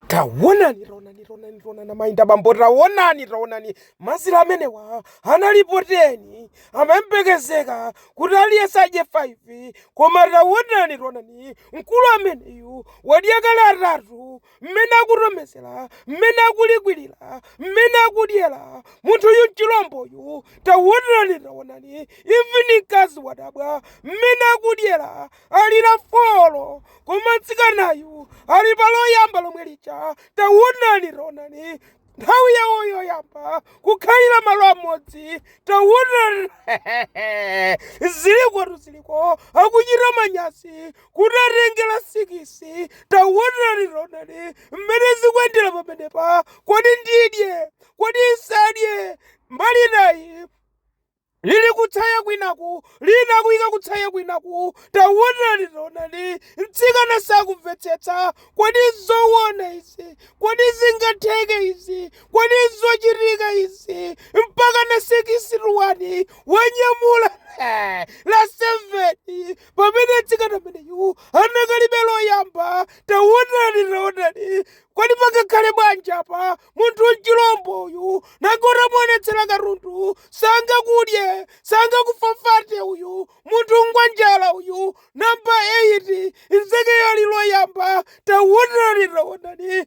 Taonani, taonani, taonani, taonani mai ndi bambo, taonani, taonani mazira amenewa analipo teni, amayembekezeka kuti aliyense adye 5 koma taonani, taonani mkulu ameneyu wadya kale atatu, mmene akutomezera, mmene akulikwirira, mmene akudyera munthuyu mchilomboyu, taonani, taonani even mkazi wadabwa mmene akudyera ali la folo koma mtsikanayu ali pa loyamba lomwe lija tawonani tawonani nthawi yawo yoyamba kukhalira malo amodzi tawonani zilikotu ziliko akuchita manyasi kuti atenge la sikisi tawonani ronani mmene zikuyendera pamenepa kodi ndidye kodi nsadye mbali nayi lili kutsaya kwinaku, lina akuyika kutsaya kwinaku. Taonani, taonani, mtsikana sakumvetsetsa. Kodi nzowona izi? Kodi zingatheke izi? Kodi nzochitika izi? Mpaka na sikisi iwowa wanyamula la seveni, pamene mtsikana ameneyu anakalibe loyamba. Taonani, taonani, Kodi pangakhale bwanji apa? Munthu mchilombo uyu nanga utamuonetsera katundu sangakudye sangakufafate uyu munthu ngwanjala uyu. Namba 8 nzekeyo ali loyamba taonani taonani